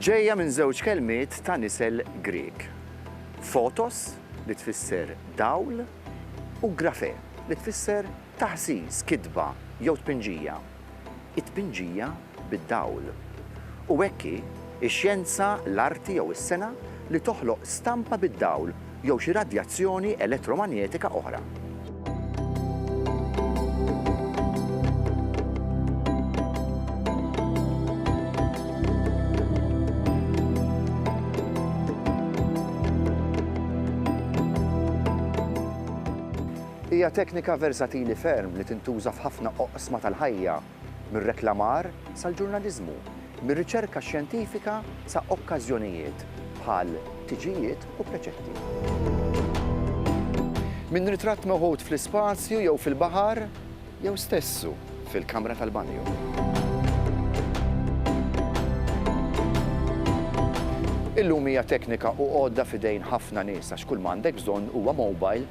Ġejja minn żewġ kelmiet ta' nisel Grieg. Fotos li tfisser dawl u grafe li tfisser taħsis, kitba jew tpinġija. it-tpinġija bid-dawl. U hekk hi x-xjenza, l-arti jew is-sengħa li toħloq stampa bid-dawl jew xi radjazzjoni elettromanjetika oħra. Hija teknika versatili ferm li tintuża f'ħafna oqsma tal-ħajja, mir-reklamar sal-ġurnaliżmu, mir-riċerka xjentifika sa okkażjonijiet bħal tiġijiet u preċetti. Minn ritratt meħud fl-ispazju jew fil-baħar jew stessu fil-kamra tal-banju. Illum hija teknika u għodda f'idejn ħafna nies għax kull ma għandek bżonn huwa mobile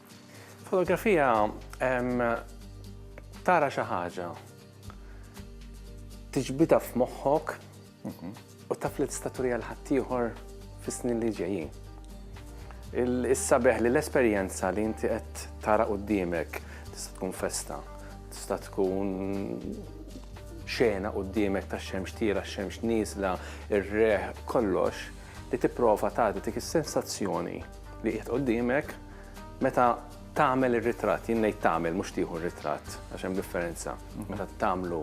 Fotografija tara xi ħaġa, tiġbidha f'moħħok mhm. u taf li tista' turija l-ħaddieħor fis-snin li ġejjin. Is-sabeħ li l-esperjenza li inti qed tara qudiemek tista' tkun festa, tista' tkun xena qudiemek ta' xemx tira, xemx nisla, ir-reħ, kollox li tipprova tagħti dik is-sensazzjoni li qiegħed qudiemek Meta tagħmel ir-ritratt, jien ngħid tagħmel mhux tieħu r-ritratt għax hemm differenza. Meta tagħmlu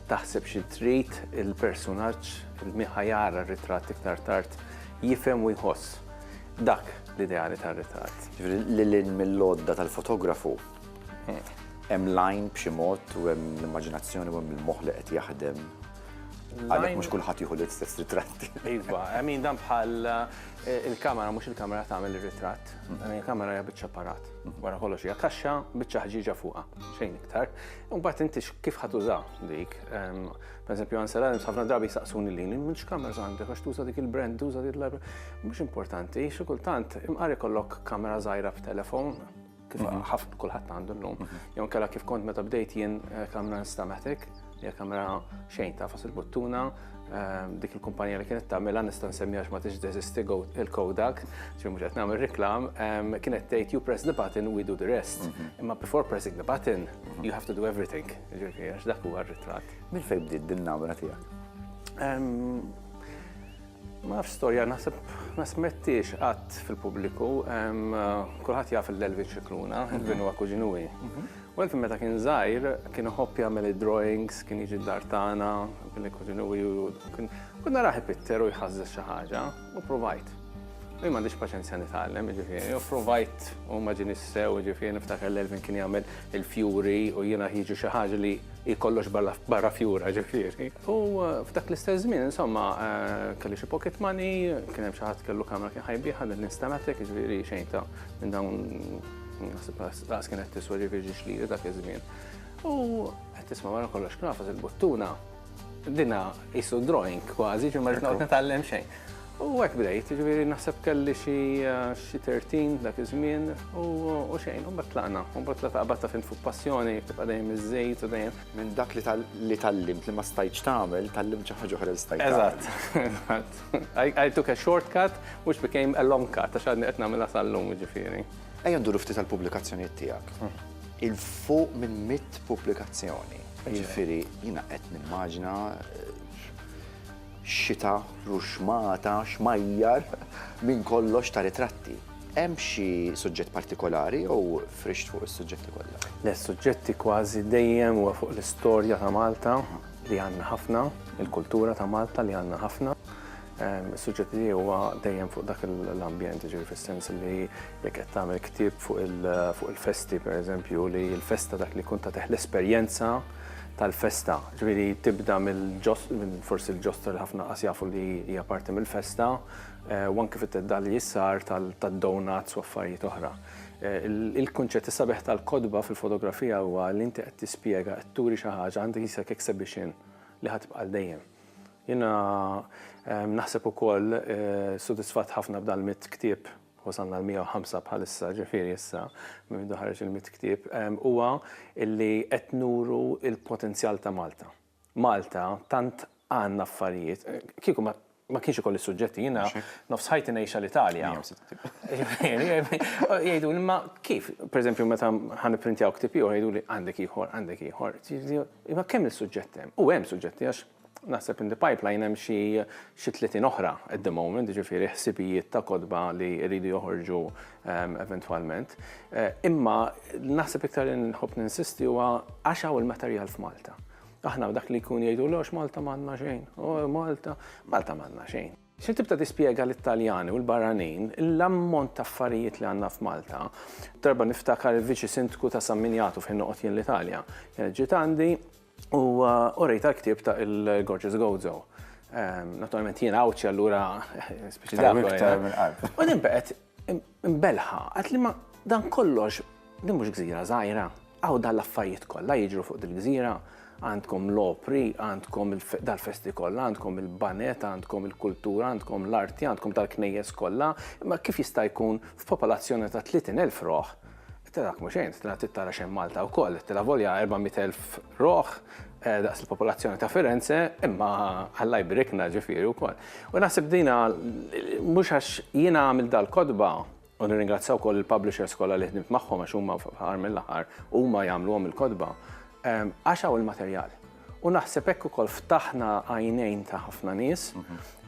taħseb xi trid il-personaġġ li ħajara r-ritratt iktar tard jifhem u jħoss. Dak l-ideali tar-ritratt. Ġifieri lil hinn mill-għodda tal-fotografu hemm lajn b'xi mod u hemm l-immaġinazzjoni u hemm il-moħħ li qed jaħdem. Għalhekk mhux kulħadd jieħu l-istess ritratti. Iva, min dan bħal eh, il-kamera mhux il-kamera tagħmel ir-ritratt. Il-kamera hija biċċa parat. Wara kollox hija kaxxa biċċa ħġiġa fuqha, xejn iktar. Imbagħad inti kif ħadd uża dik. Per eżempju, Ansel Adams ħafna drabi saqsuni li li mhux kamera għandek għax tuża dik il-brand, tuża dik il-library. Mhux importanti, xi kultant imqari kollok kamera żgħira f'telefon kif mhm. ħafna kulħadd għandu llum. Mhm. Jew kella kif kont meta bdejt jien eh, kamra nistamatik, hija kamra xejn ta' fas il-buttuna, eh, dik il-kumpanija li kienet tagħmilha nista' nsemmiha ma tix deżisti il-Kodak, ġi mhux qed nagħmel reklam, ehm, kienet tgħid you press the button we do the rest. Mhm. Imma before pressing the button you have to do everything. Ġifieri għax dak huwa r-ritratt. Mil fejn bdiet din namra tiegħek? Ehm, Ma nafx storja, naħseb ma smettiex qatt fil-pubbliku. Kulħadd jaf l-Elvin Xikluna, Elvin huwa kuġinuwi. U Elvin meta kien żgħir, kien iħobb jagħmel id-drawings, kien jiġi d-dar tagħna, kien kuġinuwi u kien naraħ ipitter u jħażżeż xi ħaġa u provajt. Jien m'għandix paċenzja nitgħallem, jiġifieri, u provajt u ma ġieni sew, jiġifieri niftakar l-Elvin kien jagħmel il-fjuri u jiena ħiġu xi ħaġa li hi kollox barra fjura, jiġifieri. U f'dak l-istess żmien, insomma, kelli xi pocket money, kien hemm xi ħadd kellu kamra kien ħajbieħa din instalatek, jiġifieri xejn ta' minn dawn naħseb laqas kien qed tiswa ġifieri ġiex lili dak iż-żmien. U qed tisma' wara kollox knafas il-buttuna dina qisu drawing kważi ġimma ġnaqgħod Ekku. nitgħallem xejn. U hekk bdejt, jiġifieri naħseb kelli xi xi 13 dak iż-żmien u u xejn, u mbagħad tlaqna, u mbagħad tlaqna qabad taf int fuq passjoni tibqa' dejjem iżżid u dejjem Minn dak li tallimt li ma stajtx tagħmel, tallimt xi ħaġa oħra li stajt tagħmel. Eżatt, eżatt. I took a short cut which became a long cut għax għadni qed nagħmilha sal-lum jiġifieri. Ejja nduru ftit għall-pubblikazzjonijiet tiegħek. Il fuq minn mitt pubblikazzjoni. Jiġifieri jiena qed nimmaġina xita, ruxmata, xmajjar minn kollox ta' ritratti. Hemm xi suġġett partikolari jew frixt fuq is-suġġetti kollha? Le, suġġetti kważi dejjem huwa fuq l-istorja ta' Malta li għandna ħafna, il-kultura ta' Malta li għandna ħafna. Ehm, is-suġġett li huwa dejjem fuq dak l-ambjent, ġiri fis-sens li jekk qed tagħmel ktieb fuq il-festi, per eżempju, li l-festa dak li kun ta' teħ l-esperjenza tal-festa, ġiri tibda mill-ġost, forsi l-ġosta li ħafna qas jafu li hija parti mill-festa, u anke fit-theddal li sar tad-donuts u affarijiet oħra. Il-kunċett, is-sabiħ tal-kotba fil-fotografija huwa li inti qed tispjega, qed turi xi ħaġa, għandek isek exhibition li ħa tibqa' għal dejjem. Jiena naħseb ukoll sodisfatt ħafna b'dan l-mitt ktieb, wasalna l-105 bħalissa, ġifieri issa minn meta ħareġ il-mitt ktieb, huwa li qed nuru l-potenzjal ta' Malta. Malta tant għandna affarijiet, kieku ma ma kienx ikolli suġġetti, jiena nofs ħajti ngħixha l-Italja. Jgħidu li ma kif, pereżempju meta ħan printjaw ktib ieħor jgħidu li għandek ieħor, għandek ieħor. Imma kemm il-suġġetti hemm? U hemm suġġetti għax naħseb in the pipeline hemm xi xi 30 oħra at the moment, jiġifieri ħsibijiet ta' kotba li jridu joħorġu eventwalment. Imma naħseb iktar li nħobb ninsisti huwa għax hawn il-materjal f'Malta. Aħna dak li jkun jgħidu l Malta m'għandna xejn, Malta, Malta m'għandna xejn. Xi tibta tispjega l-Italjani u l-barranin l-ammont ta' affarijiet li għandna f'Malta. Darba niftakar il-Viċi Sindku ta' San Minjatu fejn noqgħod jien l-Italja. Ġiet għandi U orejta l-ktieb ta' il-Gorgeous Gozo. Naturalment jien għawċi allura speċi dak. U din beqet imbelħa, għat li ma dan kollox din mhux gżira żgħira, għaw dan l-affarijiet kollha jiġru fuq dil-gżira, għandkom l-opri, għandkom dal-festi kollha, għandkom il-banet, għandkom il-kultura, għandkom l-arti, għandkom tal-knejjes kollha, imma kif jista' jkun f'popolazzjoni ta' 30,000 roħ Tilha mhux xejn, tilha trid tara xejn Malta wkoll, tilha volja 400,000 ruħ eh, daqs il-popolazzjoni ta' Firenze, imma Alla jbrikna ġifieri wkoll. U naħseb dina mhux għax jiena għamil dal-kodba u nirringrazzja wkoll il-publishers kollha li ħdimt magħhom għax huma fl-aħħar mill-aħħar huma jagħmluhom il-kodba. Ehm, għax hawn il-materjal. U naħseb hekk ukoll ftaħna għajnejn ta' ħafna nies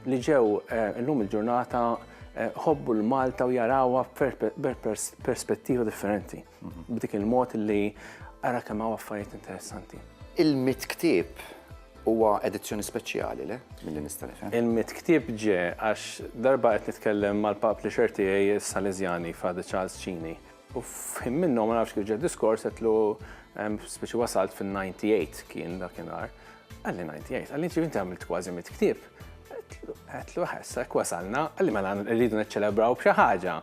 li ġew eh, illum il-ġurnata eh, ħobbu l-Malta u jarawha perspettiva differenti. Mhm. B'dik il-mod li ara kemm hawn affarijiet interessanti. Il-mit ktieb huwa edizzjoni speċjali le mill nista' nifhem. Il-mit ktieb ġe għax darba qed nitkellem mal-pap li xerti għaj Salesiani Fadi Charles Cini U f'ħin minnhom ma nafx kif ġa diskors għedlu speċi wasalt fin-98 kien dakinhar. Għalli 98, għalli inti għamilt kważi mit ktieb. Għetlu ħessa, wasalna, għalli mela rridu neċċelebraw b'xi ħaġa.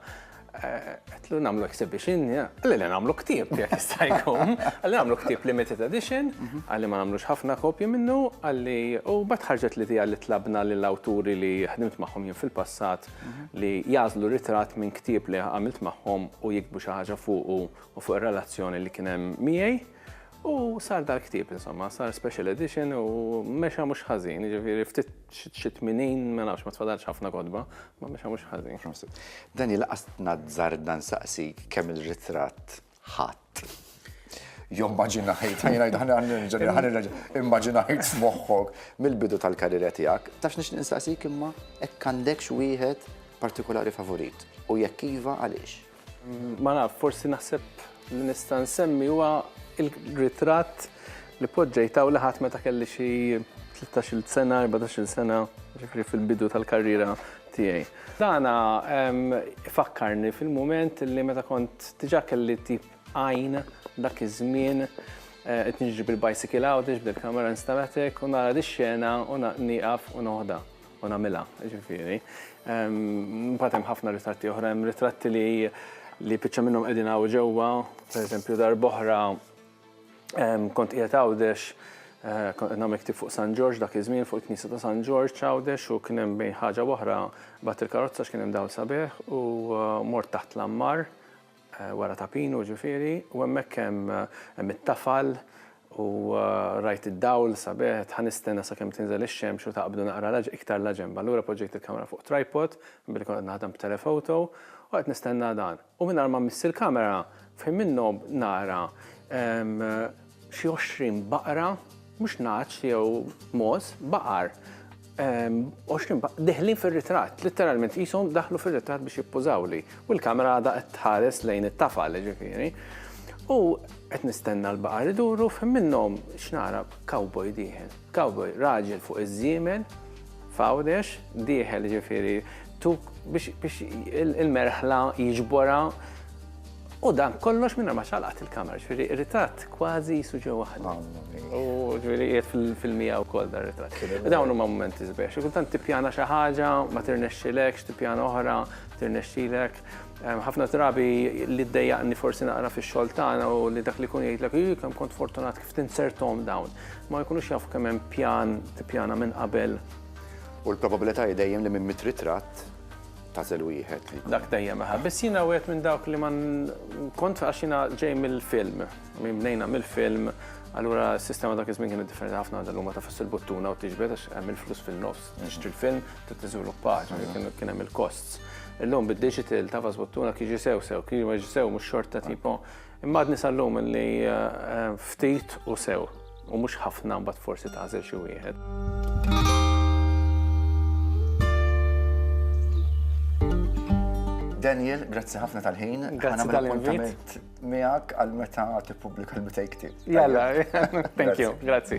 Għetlu namlu exhibition, għalli li namlu ktib, jek jistajkom. Għalli namlu ktib limited edition, għalli ma namlux ħafna kopji minnu, għalli u batħarġet li tija li tlabna l-awturi li ħdimt maħħom jien fil-passat li jagħżlu ritratt minn ktieb li għamilt magħhom u jikbu xi ħaġa fuqu u fuq ir-relazzjoni li kien hemm miegħi. U sar dal-ktieb, insomma, sar special edition u mexa mhux ħażin, ġifieri ftit xi tminin ma nafx ma tfadalx ħafna kodba, ma mexa mhux ħażin. Daniel, qas tnazzar dan saqsik kemm il-ritratt ħadd. Jommaġinajt, ħajnajt ħanirġa' immaġinajt f'moħħok mill-bidu tal-karriera tiegħek, tafx nix nistaqsik imma hekk għandekx wieħed partikolari favorit u jekk iva għaliex? Ma naf, forsi naħseb li nista' nsemmi huwa il-ritratt Li poġġejt hawn laħat meta kelli xi tlettax-il sena, erbatax-il sena, ġifieri fil-bidu tal-karriera tiegħi. Dan ifakkarni fil-mument li meta kont diġà kelli tip għajn dak iż-żmien qed niġri bil-bicycle hawn, tiġbed il-kamera installatek u nara dix-xena u nieqaf u noħodha u nagħmilha, ġifieri. Mbagħad hemm ħafna ritratti oħra, hemm ritratti li biċċa minnhom qegħdin hawn ġewwa, pereżempju darb'oħra, Kont qiegħed Għawdex, kont qed nagħmel ktieb fuq San Ġorġ dak iż-żmien fuq il-Knisja ta' San Ġorġ Għawdex u kien hemm bejn ħaġa w'oħra bagħat il-karozza x'kien hemm dawl sabiħ u mort taħt l-għammar wara ta' pinu ġifieri u hemmhekk hemm hemm it-tafal u rajt id-dawl sabiħ qed ħanistenna sakemm tinżel ix-xemx u taqbdu naqra iktar laġenb. Allura poġġejt il-kamera fuq tripod billi kont qed naħdem b'telephoto u qed nistenna dan. U mingħajr ma mmissi l-kamera, f'ħin min-nogħob nara xi għoxrin baqra, mhux nagħaġ jew mogħoż, baqar, għoxrin baqra deħlin fir-ritratt, litteralment qishom daħlu fir-ritratt biex jippużawli, u l-kamera għadha qed tħares lejn it-tafal, jiġifieri. U qed nistenna l-baqar iduru, f'ħin minnhom x'nara, cowboy dieħel. Cowboy, raġel fuq iż-żiemel, f'Għawdex, dieħel ġifieri tuk biex il-merħla jiġborha u dan kollox minn ma ċalqat il-kamera, ġifieri ritratt kważi jisu ġew waħda. U ġifieri qiegħed fil-filmija wkoll dan ritratt. Dawn huma momenti sbiex. Kultant tippjana xi ħaġa, ma tirnexxilekx, tippjana oħra, tirnexxilek. Ħafna drabi li ddejjaqni forsi naqra fix-xogħol tagħna u li dak li kun jgħidlek, kemm kont fortunat kif tinsertom dawn. Ma jkunux jafu kemm hemm pjan tippjana minn qabel. U l-probabilità hi dejjem li minn mitt ritratt tagħżel wieħed li. Dak dejjem aha. Biss jiena wieħed minn dawk li ma kont għax jiena ġej mill-film. Min bnejna mill-film, allura s-sistema dak iż-żmien kienet differenti ħafna għadha llum ma tafx il-buttuna u tiġbed għax hemm il-flus fin-nofs. Tixtri l-film, trid tiżviluppa, kien hemm il-costs. Illum bid-digital tafas buttuna kif jiġi sew sew, kif ma jiġi sew mhux xorta tipo. Imma għadni sal-lum li ftit u sew, u mhux ħafna mbagħad forsi tagħżel xi wieħed. Daniel, grazzi ħafna tal-ħin. Grazzi tal-appuntament miegħek għal meta tippubblika l-bitej ktieb. Jalla, thank you, grazzi.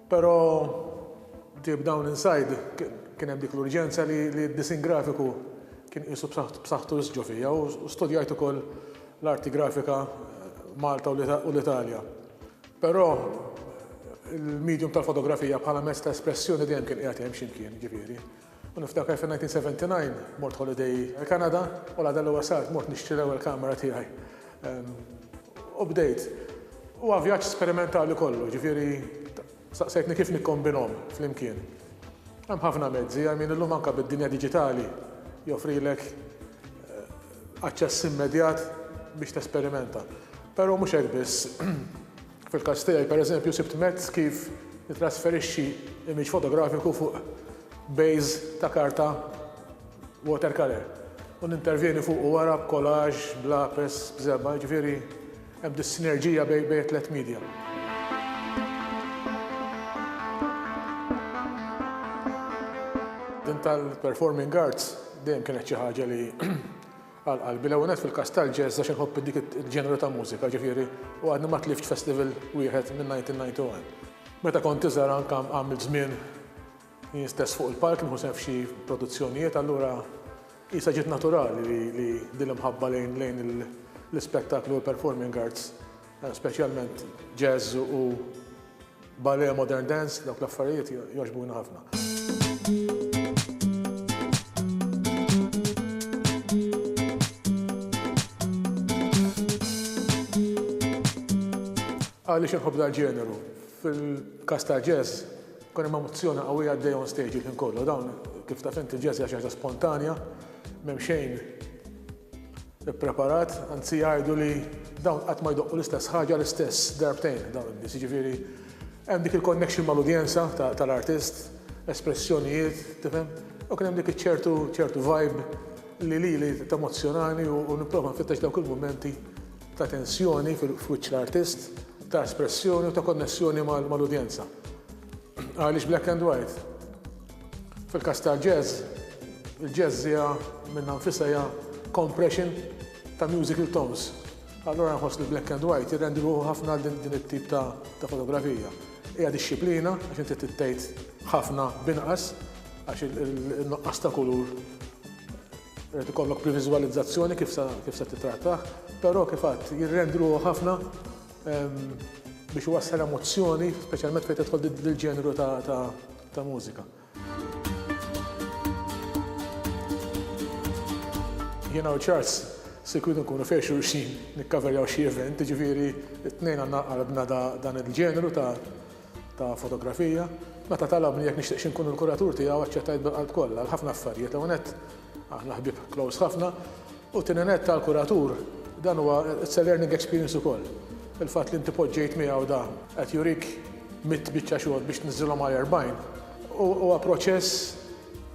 Però deep down inside kien hemm dik l-urġenza li d-disinn grafiku kien qisu b'saħħtu wisq ġo fija u studjajt ukoll l-arti grafika Malta u l-Italja. Però il-medium tal-fotografija bħala mezz ta' espressjoni dejjem kien qiegħed hemm xi mkien, jiġifieri. U niftakar fin-1979 mort holiday il-Kanada u l-għada li wasalt mort nixtri l-ewwel kamera tiegħi. U bdejt. Huwa vjaġġ sperimentali kollu, ġifieri staqsejtni kif nikkombinhom flimkien. Hemm ħafna mezzi, I mean illum anke bid-dinja diġitali joffrilek aċċess immedjat biex tesperimenta. Però mhux hekk biss. Fil-każ tiegħi, pereżempju, sibt mezz kif nittrasferixxi image fotografiku fuq base ta' karta watercolour u nintervjeni fuqu wara b'collage, b'lapes, b'żebgħa, jiġifieri hemm dis-sinerġija bejn it-tliet media. Din tal-performing arts dejjem kienet xi ħaġa li Għal qalbi, l-ewwel nett fil-każ tal-jazz għax inħobb dik il-ġeneru ta' mużika, ġifieri, u għadni ma tlift festival wieħed minn 1991. Meta kont iżgħar anke għamilt żmien jien stess fuq il-palk nieħu sehem f'xi produzzjonijiet, allura qisha ġiet naturali li din l-imħabba lejn l-ispettaklu u l-performing arts Speċjalment jazz u ballet modern dance, dawk l-affarijiet jogħġbuni ħafna. Għaliex inħobb dal-ġeneru? Fil-każ tal-jazz, ikun hemm emozzjoni qawwija għaddejja on stage il-ħin kollu. Dawn, kif taf int, il-jazz hija xi ħaġa spontanja, m'hemm xejn, ippreparat, anzi jgħidu li dawn qatt ma jdoqqu l-istess ħaġa l-istess darbtejn dawn in-nies, jiġifieri hemm dik il-connection mal-udjenza tal-artist, espressjonijiet, tifhem, u kien hemm dik iċ-ċertu ċertu vibe li lili temozzjonani u nipprova nfittex dawk il-mumenti ta' tensjoni f'wiċċ l-artist, ta' espressjoni u ta' konnessjoni mal-udjenza. Għaliex black and white? Fil-każ tal-jazz, il-jazz hija minnha nfisha hija compression ta' musical tones. Allura nħoss li black and white jirrendi ruħu ħafna għal din it-tip ta' fotografija. Hija dixxiplina għax inti trid tgħid ħafna b'inqas għax in-nuqqas ta' kulur irid ikollok previżwalizzazzjoni kif sa kif sa tittrattah, però kif għadt jirrendi ruħu ħafna biex iwassal emozzjoni, speċjalment fejn tidħol dil-ġeneru ta' ta' mużika. Jiena u Charles se jkunu nkunu fejn xulxin nikkaverjaw xi event, jiġifieri t-tnejn għandna qalbna dan il-ġeneru ta' fotografija. Meta talabni jekk nixtieqx inkun il-kuratur tiegħu aċċettajt bil-qalb kollha għal ħafna affarijiet. L-ewwel nett aħna ħbieb close ħafna U t-tieni nett għall-kuratur dan huwa it's a learning experience ukoll. Il-fatt li inti poġġejt miegħu da qed jurik mitt biċċa xogħol biex tniżżilhom għal erbgħin huwa proċess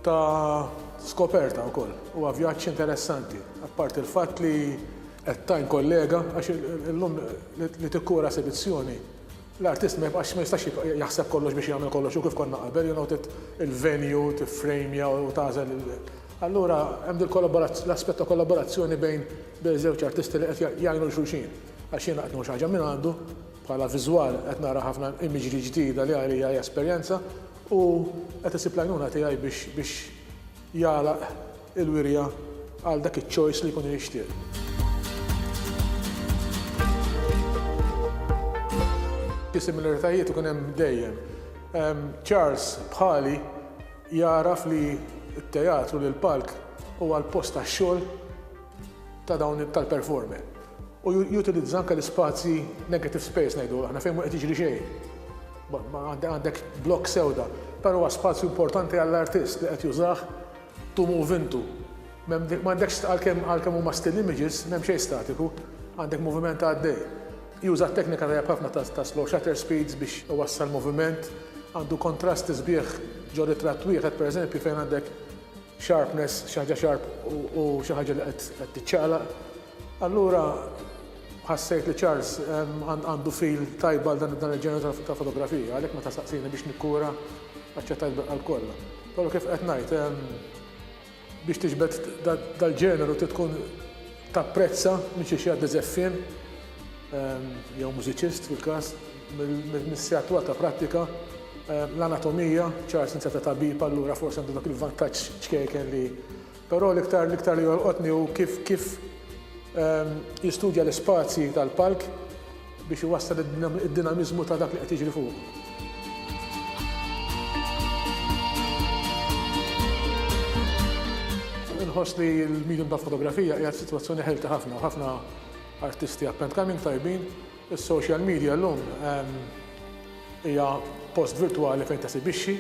ta' skoperta wkoll. Huwa vjaġġ interessanti, apparti l-fatt li qed tgħin kollega għax illum li tikkura esibizzjoni L-artist ma jibqax, ma jistax jibqa' jaħseb kollox biex jagħmel kollox hu kif konna qabel, you know, trid il-venue, tiffrejmja u tagħżel il. Allura hemm dil-kollaborazz, l-aspett ta' kollaborazzjoni bejn bejn żewġ artisti li qed jgħinu lil xulxin. Għax jiena qed nieħu xi ħaġa minn għandu, bħala viżwal qed nara ħafna imagery ġdida li għalija hija esperjenza u qed isib l-għajnuna tiegħi biex biex jagħlaq il-wirja għal dak iċ-choice li jkun jixtieq. Xi similaritajiet ikun hemm dejjem. Charles bħali jagħraf li t-teatru, li l-palk huwa l-post tax-xogħol ta' dawn tal-performer u jutilizza anke l-ispazji negative space ngħidu aħna fejn mhu qed jiġri xejn. Ma għandek blokk sewda, però huwa spazju importanti għall-artist li qed jużah tumu u vintu. M'għandekx għalkemm għalkemm huma still images, m'hemm xejn statiku, għandek moviment għaddej. Juża teknika tajjeb ħafna ta' slow shutter speeds biex iwassal moviment, għandu kontrasti sbieħ ġo ritratt wieħed pereżempju fejn għandek Sharpness, xi ħaġa sharp u xi ħaġa li qed tiċċaqlaq. Allura ħassejt li Charles għandu feel tajb għal dan il-ġeneru ta' fotografija, għalhekk meta staqsieni biex nikkura, aċċettajt bil-qalb kollha. Però kif qed ngħid, biex tiġbed dal-ġeneru trid tkun tapprezza minn xi xi ħadd li żeff fien, jew mużiċist fil-każ, Mill-missja twal ta' prattika, l-anatomija, ċar sinzja ta' tabib allura forsi għandu dak il-vantaġġ ċkejken li però l-iktar l-iktar li jolqotni hu kif kif ehm, jistudja l-ispazji tal-palk biex iwassal id-dinamiżmu ta' dak li qed jiġri fuq. nħoss li l-medium ta' fotografija hija situazzjoni ħelta ħafna, ħafna artisti appent coming tajbin, Is-social media llum hija post virtwali fejn tesibixxi.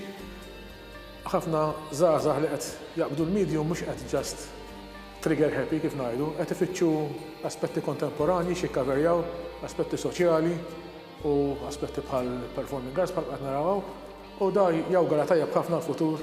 Ħafna żgħażagħ li qed jaqbdu l-medium mhux qed just trigger happy kif ngħidu, qed ifittxu aspetti kontemporanji x'jikkaverjaw, aspetti soċjali u aspetti bħall-performing arts bħalma qed naraw hawn u dan jawgura tajjeb ħafna għall-futur.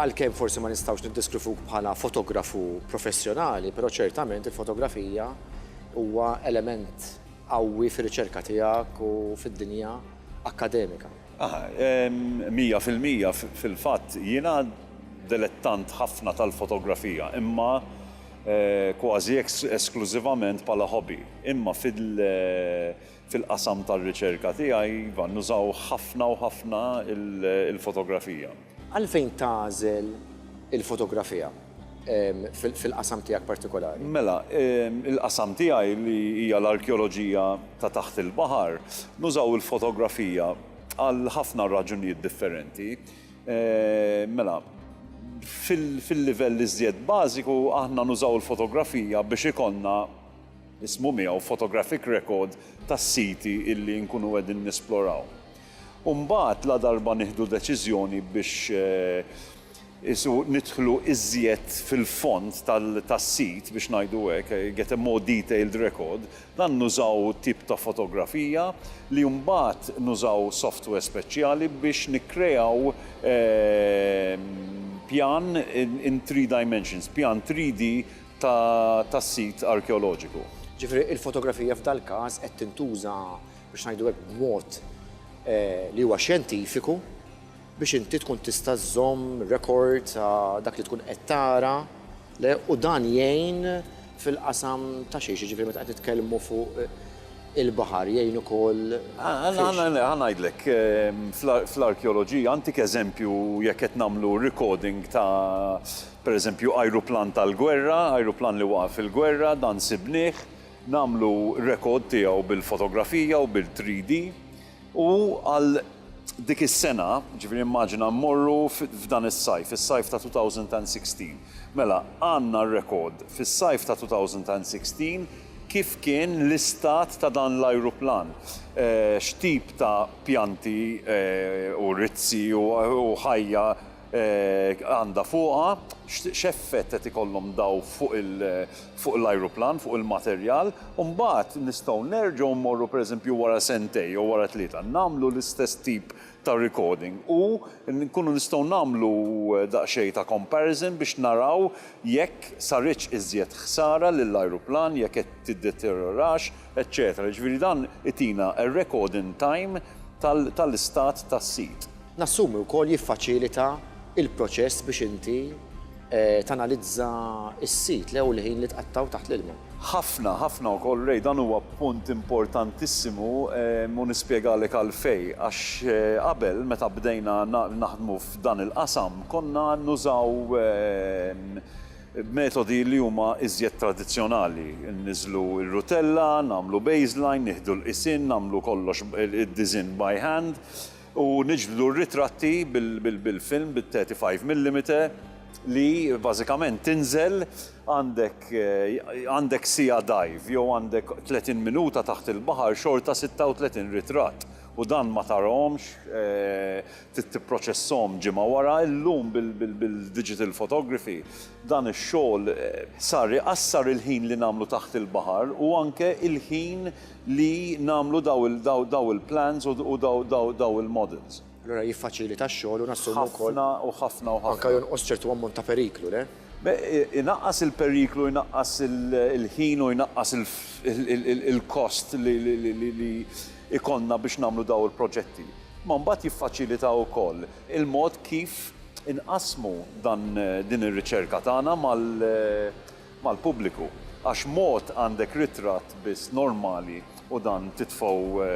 Għalkemm forsi ma nistgħux niddeskrivuk bħala fotografu professjonali, però ċertament il-fotografija huwa element qawwi fir-riċerka tiegħek u fid-dinja akkademika. Ah, mija fil-mija. Fil-fatt, jiena dilettant ħafna tal-fotografija, imma kważi esklużivament bħala hobby. Imma fil. Fil-qasam tar-riċerka tiegħi, iva, nużaw ħafna u ħafna l-fotografija. Għalfejn tagħżel il-fotografija fil-qasam tiegħek partikolari? Mela, il-qasam tiegħi li hija l-arkeoloġija ta' taħt il-baħar, nużaw il-fotografija għal ħafna raġunijiet differenti. Mela, fil-livell iżjed bażiku aħna nużaw il-fotografija biex ikollna, ismu miegħu photographic record tas-siti illi nkunu qegħdin nisploraw. U mbagħad ladarba nieħdu deċiżjoni biex isu nidħlu iżjed fil-fond tas-sit biex ngħidu hekk, get a more detailed record, dan nużaw tip ta' fotografija li mbagħad nużaw software speċjali biex nikkreaw pjan in three dimensions, pjan 3D tas-sit arkeoloġiku. Ġifieri il-fotografija f'dal-każ qed tintuża, biex ngħidu hekk, b'mod li huwa xjentifiku biex inti tkun tista' żżomm rekord ta' dak li tkun qed tara le u dan jgħin fil-qasam ta' xiex, jiġifieri meta qed nitkellmu fuq il-baħar jgħin ukoll fiex? Ħa ngħidlek, fl-arkeoloġija, ntik eżempju jekk qed nagħmlu recording ta' Pereżempju, ajruplan tal-gwerra, ajruplan li waqa' fil-gwerra, dan sibnieh, nagħmlu rekord tiegħu bil-fotografija u bil-3D. U għal dik is-sena, jiġifieri immaġina mmorru f'dan is-sajf, is-sajf ta' 2016. Mela, għandna rekord fis-sajf ta' 2016 kif kien l-istat ta' dan l-ajruplan, x'tip ta' pjanti u rizzi u ħajja għandha fuqha, x'effett qed ikollhom dawn fuq l-ajruplan, fuq il-materjal, u mbagħad nistgħu nerġgħu mmorru pereżempju wara sentejn jew wara tlieta nagħmlu l-istess tip ta' recording u nkunu nistgħu nagħmlu daqsxejn ta' comparison biex naraw jekk saritx iżjed ħsara lill-ajruplan, jekk qed tiddeterjorax. eċċetera Jiġifieri dan itina record in time tal-istat tas-sit. Nassumi wkoll jiffaċilita l-proċess biex inti tanalizza s-sit le u l-ħin li tqattgħu taħt l-ilma. Ħafna, ħafna wkoll Ray, dan huwa punt importantissimu u nispjegalek għalfejn. Għax qabel meta bdejna naħdmu f'dan il-qasam konna nużaw, B'metodi li huma iżjed tradizzjonali, inniżlu r-rutella, nagħmlu baseline, nieħdu l-qisien, nagħmlu kollox id-disinn by hand u niġbdu r-ritratti bil-film bit-thirty five millimeter li bażikament tinżel għandek għandek siegħa dive jew għandek tletin minuta taħt il-baħar xorta sitta u tletin ritratt u dan ma tarahomx Trid tipproċessahom ġimgħa wara. Illum bil-digital photography dan ix-xogħol sar iqassar il-ħin li nagħmlu taħt il-baħar u anke il-ħin li nagħmlu daw il-plans u daw il-models. Allura jiffaċilita x-xogħol u nassumu wkoll. Ħafna u ħafna u ħafna. Anke jonqos ċertu ammont ta' periklu, le? Inaqqas il-periklu, inaqqas il-ħin u jnaqqas il-kost li jkollna biex nagħmlu daw il-proġetti. Imma mbagħad jiffaċilita wkoll il-mod kif inqassmu dan din ir-riċerka tagħna mal mal-pubbliku. Għax mod għandek ritratt biss normali u dan titfgħu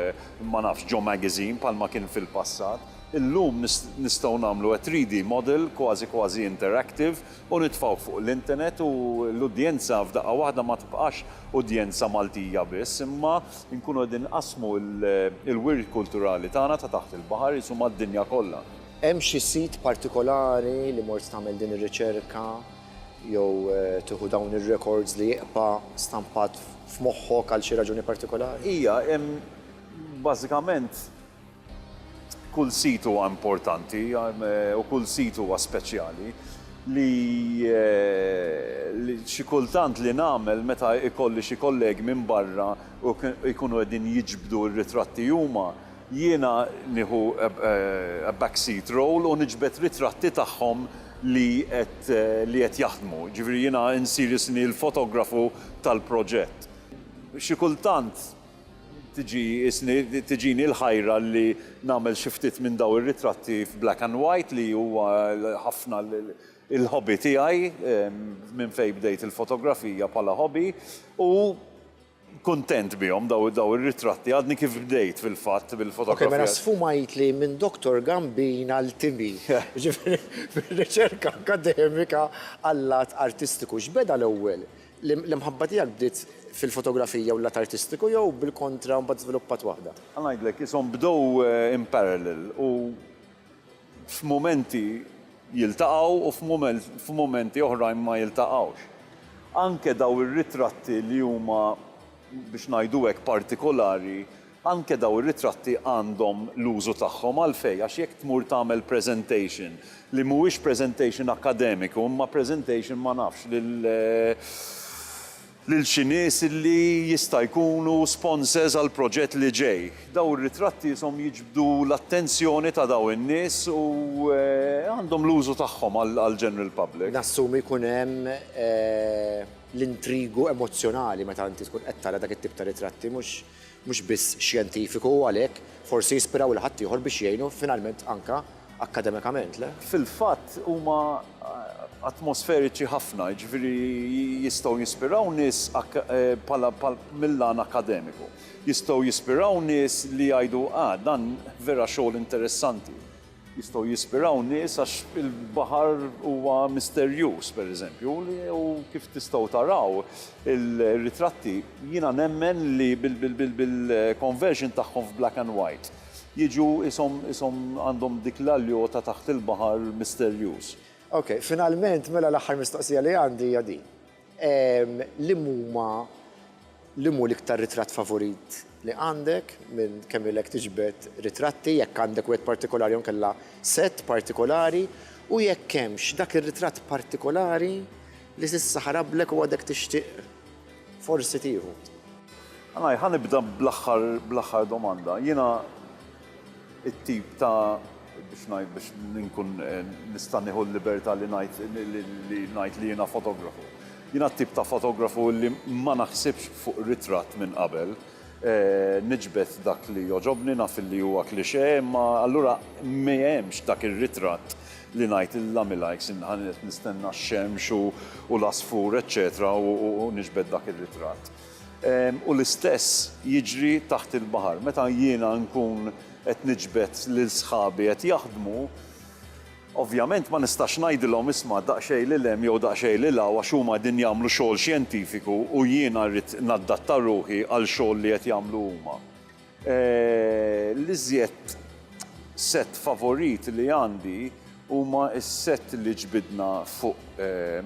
ma nafx ġo magazine bħalma kien fil-passat, illum nist nistgħu nagħmlu a 3D model kważi kważi interactive u nitfgħuh fuq l-internet u l-udjenza f'daqqa waħda ma tibqax udjenza Maltija biss imma Inkunu qegħdin inqassmu l-wirt kulturali tagħna ta' taħt il-baħar qisu mad-dinja kollha. Hemm xi sit partikolari li mort tagħmel din ir-riċerka jew tieħu dawn ir-rekords li jibqa' stampat f'moħħok għal xi raġuni partikolari? Hija hemm bażikament Kull sit huwa importanti u kull sit huwa speċjali li xi kultant li nagħmel meta ikolli xi kollegi minn barra u jkunu qegħdin jiġbdu r-ritratti huma, jiena nieħu a back seat role u niġbed ritratti tagħhom li qed li qed jaħdmu. Jiġifieri jiena nsir isni l-fotografu tal-proġett. Xi kultant Tiġini l-ħajra li nagħmel xi ftit minn dawn ir-ritratti f'black and white li huwa ħafna l-hobby tiegħi minn fejn bdejt il-fotografija bħala hobby u kuntent bihom dawn ir-ritratti. Għadni kif bdejt fil-fatt bil-fotografija. Ok, mela sfumajtli minn Doctor Gambin għal Timmy, jiġifieri fir-riċerka akkademika għal-lat artistiku. X'beda l-ewwel? L-imħabba tiegħek bdiet fil-fotografija u l-lat artistiku jew bil-kontra u mbagħad żviluppat waħda? Ħa ngħidlek, ishom bdew in parallel u f'mumenti jiltaqgħu u f'mumenti oħrajn ma jiltaqgħux. Anke dawn ir-ritratti li huma, biex ngħidu hekk, partikolari, Anke dawn ir-ritratti għandhom l-użu tagħhom. Għalfejn? Għax jekk tmur tagħmel presentation li mhuwiex presentation akkademiku imma presentation ma nafx lil lil xi nies li jista' jkunu sponsors għall-proġett li ġej, dawn ir-ritratti ishom jiġbdu l-attenzjoni ta' dawn in-nies u għandhom l-użu tagħhom għall-general public. Nassumi jkun hemm l-intrigu emozzjonali meta inti tkun qed tara dak it-tip ta' ritratti mhux mhux biss xjentifiku u għalhekk forsi jispiraw lil ħaddieħor biex jgħinu finalment anke akkademikament, le? Fil-fatt huma atmosferiċi ħafna, jiġifieri jistgħu jispiraw nies bħala mill-għan akkademiku. Jistgħu jispiraw nies li jgħidu, ah, dan vera xogħol interessanti. Jistgħu jispiraw nies għax il-baħar huwa misterjuż, pereżempju, u kif tistgħu taraw ir-ritratti, jiena nemmen li bil-conversion tagħhom f'black and white, jiġu qishom qishom għandhom dik l-aljo ta' taħt il-baħar misterjuż. Ok, finalment, mela l-aħħar mistoqsija li għandi hija din. Liemhuma, liem hu l-iktar ritratt favorit li għandek minn kemm ilek tiġbed ritratti, jekk għandek wieħed partikolari jew inkella sett partikolari, u jekk hemmx dak ir-ritratt partikolari li s'issa ħarablek u għadek tixtieq forsi tieħu. Anaj, ħa nibda bl-aħħar bl-aħħar domanda. Jiena. it-tip ta' biex ngħid biex inkun nista' nieħu l-libertà li ngħid li ngħid li jiena fotografu. Jiena t-tip ta' fotografu li ma naħsibx fuq ritratt minn qabel, niġbed dak li jogħġobni, naf li huwa cliché, imma allura m'hemmx dak ir-ritratt li ngħid illa mil-għajks inħa qed nistenna x-xemx u l-għasfur eċċetera u niġbed dak ir-ritratt. U l-istess jiġri taħt il-baħar. Meta jiena nkun qed niġbed lil sħabi qed jaħdmu, ovvjament ma nistax ngħidilhom isma' daqsxejn lil hemm jew daqsxejn lil hawn għax huma qegħdin jagħmlu xogħol xjentifiku u jiena rrid naddatta ruħi għal xogħol li qed jagħmlu huma. L-iżjed sett favorit li għandi huma s-sett li ġbidna fuq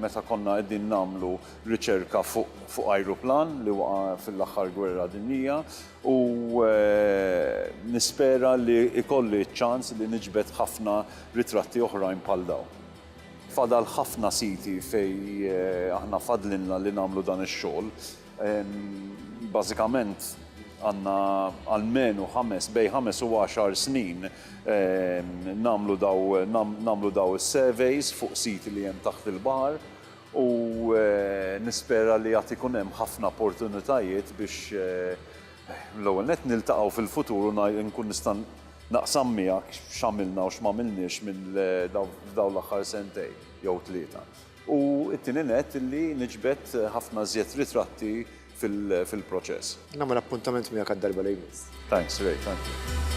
meta konna qegħdin nagħmlu riċerka fuq ajruplan li waqa' fil-aħħar gwerra dinjija u nispera li jkolli ċ-ċans li niġbed ħafna ritratti oħrajn bħal dawn. Fadal ħafna siti fejn aħna fadlilna li nagħmlu dan ix-xogħol. Bażikament għandna almenu ħames, bejn ħames u għaxar snin nagħmlu daw, nagħmlu daw is-surveys fuq siti li hemm taħt il-baħar u nispera li għad ikun hemm ħafna opportunitajiet biex l-ewwel nett niltaqgħu fil-futur u nkun nista' naqsam miegħek x'għamilna u x'm'għamilniex f'dawn l-aħħar sentejn jew tlieta. u t-tieni nett illi niġbed ħafna żjed ritratti fil-proċess. Nagħmel appuntament miegħek għad-darba li jmiss. Thanks Ray, thank you.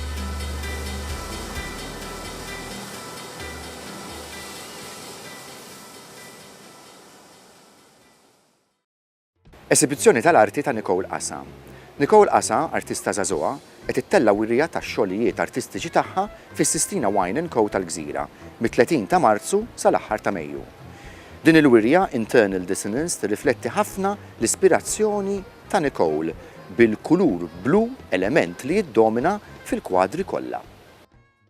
Esibizzjoni tal-arti ta' Nicole Asa. Nicole Asa, artista żagħżugħa, qed ittella' wirja tax-xogħlijiet artistiċi tagħha fis-Sistina Wine and Co tal-Gżira, mit-30 ta' Marzu sal-aħħar ta' Mejju. Din il-wirja Internal Dissonance tirrifletti ħafna l-ispirazzjoni ta' Nicole bil-kulur blu element li jiddomina fil-kwadri kollha.